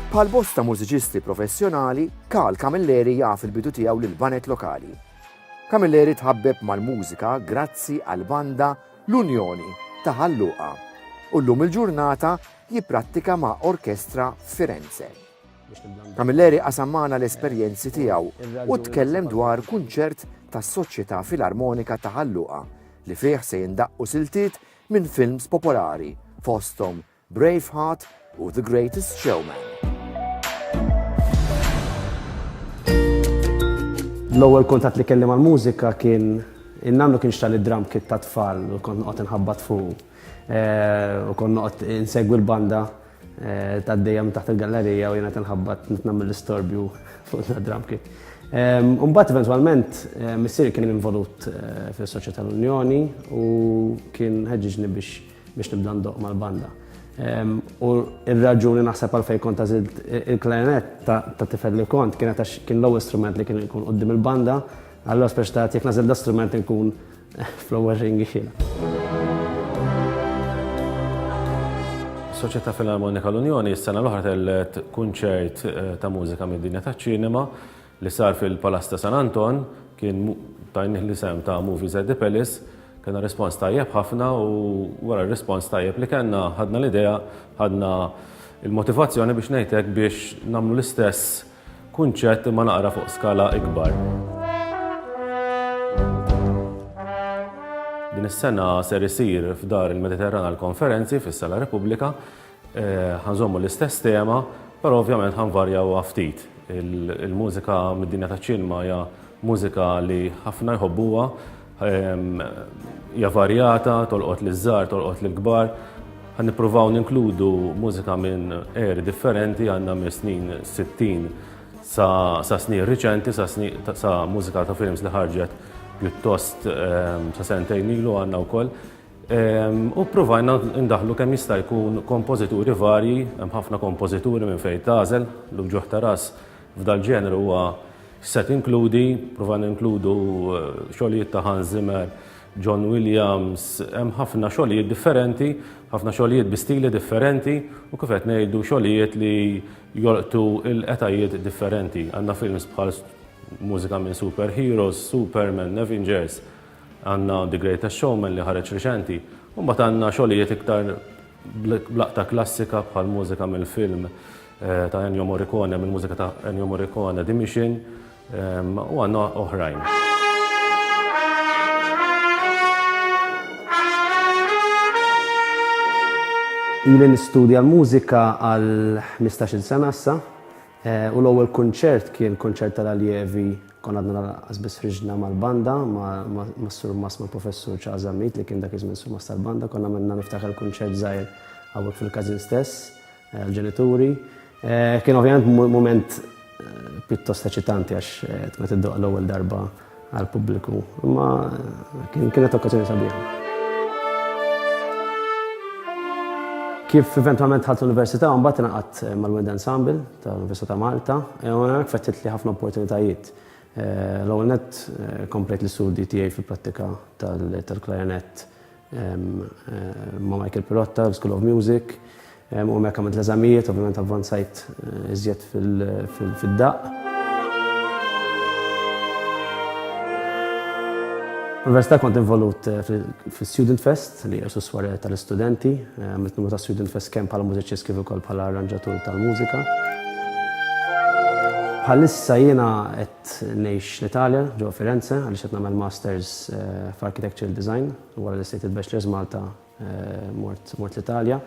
Bħal bosta mużiċisti professjonali, Karl Camilleri jaf il-bidu tiegħu lil banet lokali. Camilleri tħabbeb mal-mużika grazzi għal banda L-Unjoni ta' Ħalluqa u llum il-ġurnata jipprattika ma' orkestra Firenze. Camilleri qasam magħna l-esperjenzi tiegħu u tkellem dwar kunċert tas-Soċjetà Filarmonika ta' Ħal Luqa li fih se jindaqqu siltiet minn films popolari fosthom Braveheart u The Greatest Showman. L-ewwel kuntatt li kelli mal-mużika kien in-nannu kien xtali drum kit ta' tfal u kont noqgħod inħabbat fuq u kont noqgħod insegwi l-banda Tgħaddejja minn taħt il-gallerija u jiena qed inħabbat qed nagħmel l-istorbju fuq drum kit. Imbagħad eventwalment missieri kien involut fis-soċjetà tal-Unjoni u kien ħeġġiġni biex nibda ndoqq mal-banda. U r-raġuni naħseb għalfejn kont għażilt il-klarinett ta' tifel li kont kienet għax kien l-ewwel strument li kien ikun quddiem il-banda, allura speċi ta' jekk nagħżel da strument inkun Fl-ewwel ring ixilha. Is-Soċjetà Filarmonika l-Unjoni s-sena l-oħra tellgħet kunċert ta' mużika mid-dinja taċ-ċinema li sar fil-Palazz ta' San Anton, kien tajnih l-isem ta' Movies at the Palace, kellna rispons tajjeb ħafna u wara r-rispons tajjeb li kellna ħadna l-idea, ħadna l-motivazzjoni biex ngħid hekk biex nagħmlu l-istess Kunċett imma naqra fuq skala ikbar. Din is-sena ser isir f'dar il-Mediterran għall-konferenzi fis-Sala Repubblika eh, ħanżommu l-istess tema, però ovvjament ħanvarjaw ftit. Il-mużika mid-dinja taċ-ċinma hija mużika li ħafna jħobbuha Hija varjata, tolqot li żgħar, tolqot li kbar. Ħan nippruvaw ninkludu mużika minn eri differenti għandna minn snin 60 sa snin riċenti, sa mużika ta' films li ħarġet pjuttost sa sentejn ilu għandna wkoll. U provajna ndaħlu kemm jista' jkun kompożituri varji, hemm ħafna kompożituri minn fejn tażel, l-uġuħ ta' ras f'dal-ġenru huwa Se tinkludi, prova ninkludu xogħlijiet ta' Hans Zimmer, John Williams, hemm ħafna xogħlijiet differenti, ħafna xogħlijiet bi stili differenti u kif qed ngħidu xogħlijiet li jolqtu l-etajiet differenti. Għandna films bħal mużika minn superheroes, Superman, Avengers, għandna The Greatest Showman li ħareġ riċenti, u mbagħad għandna xogħlijiet iktar blaqta klassika bħal mużika mill-film ta' Ennio Morricone mill-mużika ta' Ennio Morricone The Mission u għandna oħrajn. Ili nistudja l-mużika għal 15 sena issa eh, u l-ewwel kunċert kien kunċert tal-allievi kon għadna għazbis friġna mal-banda, ma' sur mas ma' professur ċażamit li kien dak iż-żmien sur mas tal-banda, konna minna niftakar kunċert żgħir għawek fil-kazin stess, Għall-ġenituri kien ovvjament mument pjuttost eċitanti għax tkun qed iddoqq l-ewwel darba għall-pubbliku, imma kienet okkażjoni sabiħa. Kif eventwalment dħalt l-Università mbagħad ingħaqadt mal-Wind Ensemble tal-Università ta' Malta u hemmhekk fettitli ħafna opportunitajiet. L-ewwel nett komplejt l-istudji tiegħi fil-prattika tal-klarinett ma' Michael Pirotta, l-School of Music, u hemmhekk għamilt l-eżamijiet, ovvjament avvanzajt iżjed fid-daqq. Fl-Università kont involut fl-Student Fest, li hija s-suswarja tal-istudenti. Għamilt numru ta' Student Fest kemm bħala mużiċist kif ukoll bħala arranġatur tal-mużika. Bħalissa jiena qed Qed ngħix l-Italja, ġewwa Firenze, għaliex qed nagħmel Masters f'Architectural Design u wara li stejt il-Bachelor's Malta mort mort l-Italja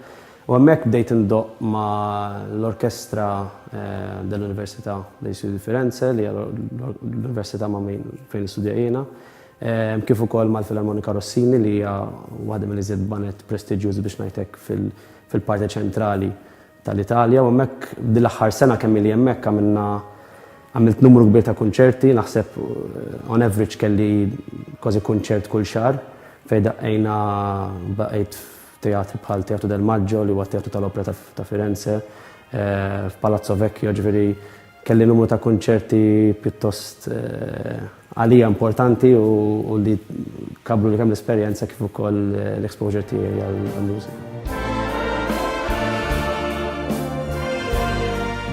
u hemmhekk bdejt indoqq ma' l-orkestra dell-Università dei Studi di Firenze li hija l-università ma' min fejn nistudja jiena kif ukoll mal-Filarmonika Rossini li hija waħda mill-iżjed baned prestiġjużi biex ngħid hekk fil-parte ċentrali tal-Italja u hemmhekk din l-aħħar sena kemm ili hemmhekk għamilna għamilt numru kbir ta' kunċerti, naħseb on average kelli kważi kunċert kull xahar fejn daqqejna baqgħet f'teatri bħal Teatru del Maggio li huwa teatru tal-opera ta' Firenze, eh, f'Palazzo Vecchio ġifieri Kelli numru ta' kunċerti pjuttost għalija importanti u li kabbru kemm l-esperjenza kif ukoll l-exposure tiegħi għall-mużika.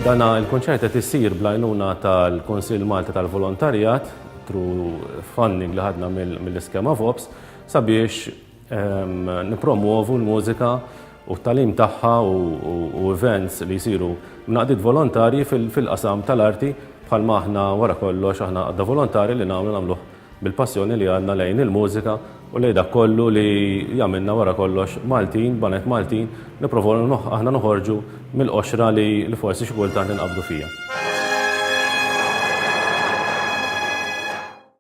Dan il-kunċert qed isir bl-għajnuna tal-Kunsill Malti tal-Volontarjat through funding li ħadna mill-iskema VOPS sabiex Nippromwovu l-mużika u t-tagħlim tagħha u events li jsiru mnaqdiet volontarji fil-qasam tal-arti bħalma aħna wara kollox aħna għaqda volontari li nagħmlu nagħmluh bil-passjoni li għandna lejn il-mużika u lejn dak kollu li jagħmilna wara kollox Maltin, baned Maltin, nipprovaw aħna noħorġu mill-qoxra li forsi xi kultant inqabdu fiha.